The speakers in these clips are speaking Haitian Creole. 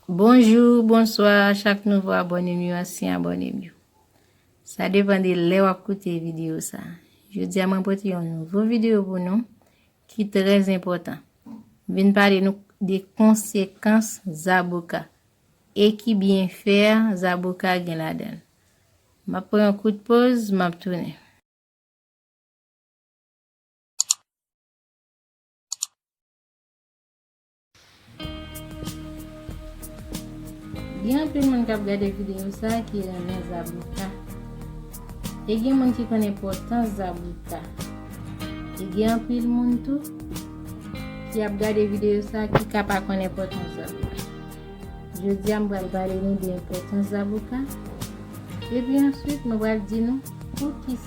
Bonjou, bonswa chak nouvo abònem yo ansyen abònem yo Sa depan de lè wap koute video sa Jodi a mwen pote yon nouvo video pou nou ki trè enpòtan M vin pale nou de konsekans zaboka e ki byenfè zaboka gen ladan l Map pran yon kout poz map tounen. Gen anpil moun kap gade video sa ki renmen zaboka E gen moun ki konnen potans zaboka E gen anpil moun tou ki ap gade video sa ki ka pa konnen potans zaboka Jodi a m pral pale nou de potans zaboka E pi answit m pral di nou pou ki sa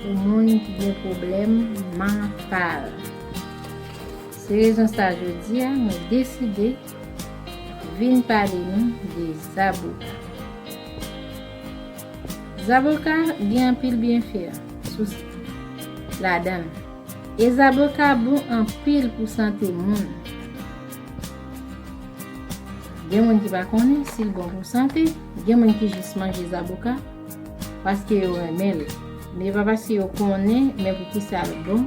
Pou moun ki gen pwoblèm mantal. Se rezon sa jodi a mwen deside vin pale nou de zaboka. Zaboka gen anpil byenfè sou ladan l. E zaboka bon anpil pou sante moun. Gen moun ki pa konnen si l bon pou sante, gen moun ki jis manje zaboka. Paske yo renmen l. Men e pa paske yo konnen men poukisa l bon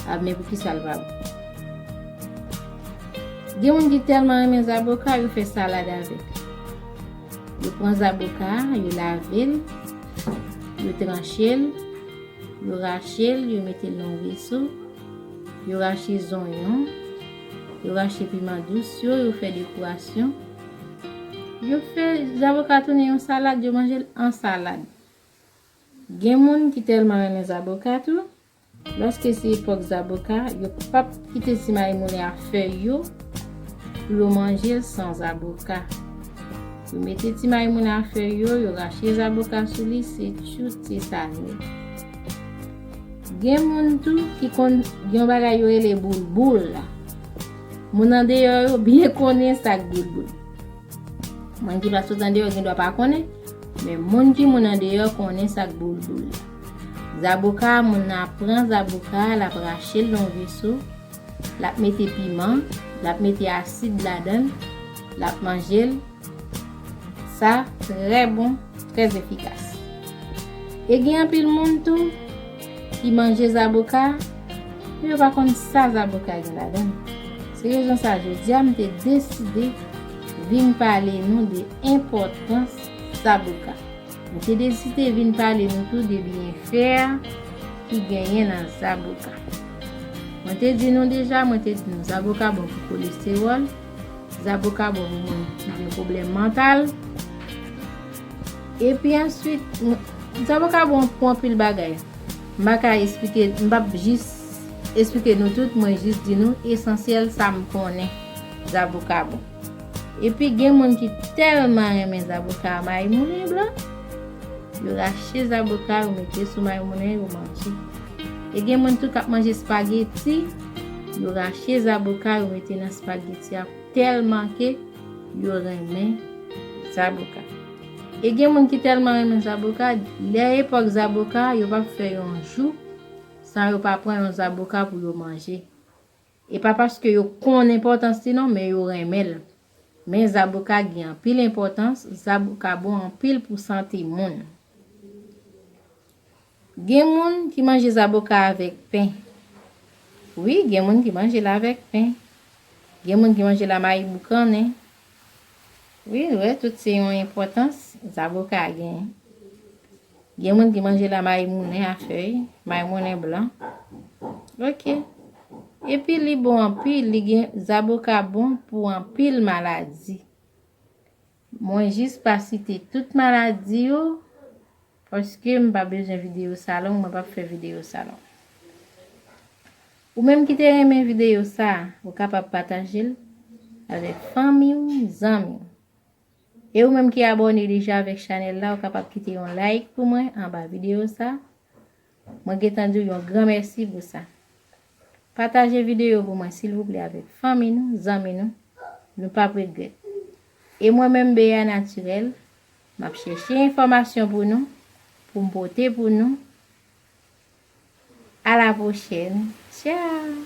ak men poukisa l pa bon. Gen moun ki tèlman renmen zaboka yo fè salad avèk. Yo pran zaboka a, yo lave l, yo tranche l, yo rache l, yo mete l nan yon veso, yo rache zonyon, yo rache piman dous yo, yo fè dekorasyon. Yo fè zaboka tounen yon salad, yo manje l an salad. Gen moun ki tèlman renmen zaboka tou, lòske se epòk zaboka, yo pap kite ti mayi moulen ak fèy yo pou yo manje l san zaboka. Yo mete ti mayi moulen ak fèy yo, yo rache zaboka sou li, se tjout se sa nèt. Gen moun tou ki konn gen yon bagay yo rele boulboul. Moun andeyò yo byen konnen sa k boul boul. Moun ki pa sot andeyò gen dwa pa konnen, men moun ki moun andeyò konnen sa k boul boul la. Zaboka, moun nan ap pran zaboka, l ap rache l nan veso, l ap mete piman, l ap mete asid ladan l, l ap manje l. Sa trè bon, trè efikas. E gen anpil moun tou ki manje zaboka men yo pa konn sa zaboka gen ladan. Se rezon sa jodia m te deside vin pale nou de enpòtans zaboka. M te deside vin pale nou tou de byenfè ki genyen nan zaboka. Mwen te di nou deja, mwen te di nou zaboka bon pou kolestewòl. Zaboka bon pou moun ki gen pwoblèm mantal. Epi answit, zaboka bon pou anpil bagay. M pa ka esplike, m pap jis esplike nou tout, mwen jis di nou esansyèl sa m konnen zaboka bon. Epi gen moun ki tèlman renmen zaboka a mayimounen blan, yo rache zaboka yo mete sou mayimounen yo manje. E gen moun tou k ap manje spageti. Yo rache zaboka yo mete nan spageti a tèlman ke yo renmen zaboka. E gen moun ki tèlman renmen zaboka, lè epòk zaboka yo pap fè yon jou san yo pa pran yon zaboka pou yo manje. E pa paske yo konn enpòtans li non, men yo renmen l. Men zaboka gen anpil enpòtans, zaboka bon anpil pou sante moun. Gen moun ki manje zaboka avèk pen. Wi, gen moun ki manje l avèk pen. Gen moun ki manje l a mayi boukannen. Wi, nou wè tout se yon enpòtans zaboka gen. Gen moun ki manje l a mayi moulen a fèy, mayi moulen blan. Ok. Epi li bon anpil, li gen zaboka bon pou anpil maladi. Mwen jis pa site tout maladi yo paske m pa bezwen videyo sa long mwen pap fè videyo sa long. Ou menm ki te renmen videyo sa ou kapab pataje l avèk fanmi w, zanmi w. E ou menm ki abòne deja avèk chanèl la ou kapab kite yon like pou mwen anba videyo sa. Mwen gentan diw yon gran mèsi pou sa. Pataje video pou mwen silvouplè avèk fanmi nou, zanmi nou, nou pap regrèt. E mwen menm Bea Naturelle, map chèche enfòmasyon pou nou, poum pote pou nou. A la pwochèn. Tchao!